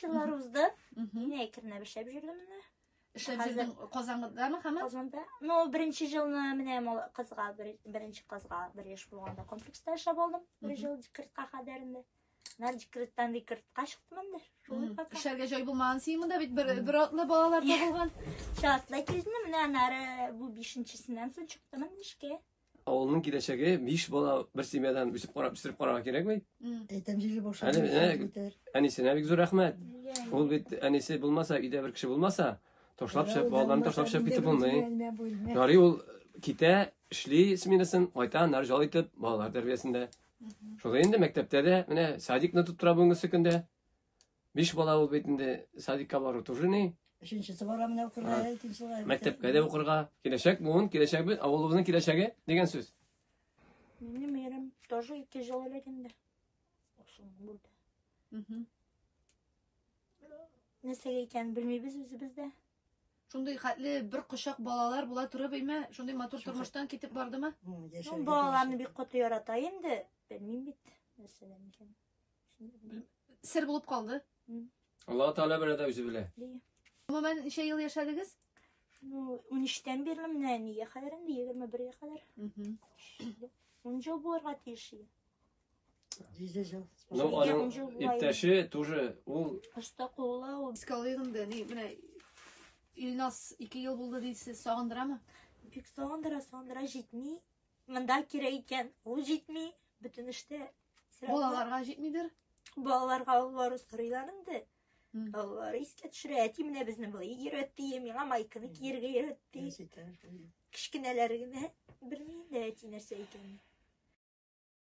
Шулар узды. Мин әкренләп эшләп җөрдем менә. Эшләп җөрдең Казангыдамы һәм? Казанда. Ну, беренче елны менә мал кызга беренче кызга бер яшь булганда комплекста эшләп алдым. Бер ел декретка кадәр инде. Нар декреттан декретка чыктым инде. Эшләргә җай булмаган син монда бит бер бер атлы балалар да булган. Шатлы килдем менә анары бу 5-нчесеннән соң чыктым инде эшкә. Авылның киләчәге биш бала бер семьядан үсеп карап үстереп карарга кирәк бит. Әйтәм җире башы. Әле, әле. Әнисенә бик зур рәхмәт. Ул бит әнисе булмаса, өйдә бер кеше булмаса, ташлап чыгып, балаларын ташлап чыгып китеп булмый. Ярый ул китә, эшли сменасын, кайта, нар жал итеп, балалар тәрбиясендә. Шулай инде мәктәптә дә, менә садикны тоттыра бүгенге көндә. Биш бала ул бит инде садикка бару тоже ни. Өченчесе бара менә укырга, икенчесе. Мәктәпкә дә укырга. Киләчәк буын, киләчәк бит, авылыбызның киләчәге дигән сүз. Минем ирем тоже ике жыл элек инде. Ошон булды. Угу. Нәрсәгә икәнен белмибез үзебез дә. Шундый хәтле бер кочак балалар була туры бейме? Шундый матур тормыштан китеп бардымы? Ну, балаларны бик каты ярата инде. Белмим бит, нәрсәдән икән. Сер булып калды. Аллаһ Тәгалә белә дә үзе белә. Гомумән ничә ел яшәдегез? Ну, 13-тән бирле менә нигә кадәр инде 21-гә кадәр. Мгм. 10 ел булырга тиеш иде. Җиде жыл. Ну, Нигә аның он жыл була иптәше тоже ул Оста куллы ул. Искә алыйк инде. Ни, менә Илнас 2 ел булды дисез, сагындырамы? Бик сагындыра, сагындыра җитми. Монда кирәк икән, ул җитми. Бөтен эштә Балаларга җитмидер? Балаларга аллары сорыйлар инде. Аллары искә төшерә. Әти менә безне былай йөрәтте, миңа майканы киергә йөрәтте. Кечкенәләр генә белми инде әти нәрсә икәнен.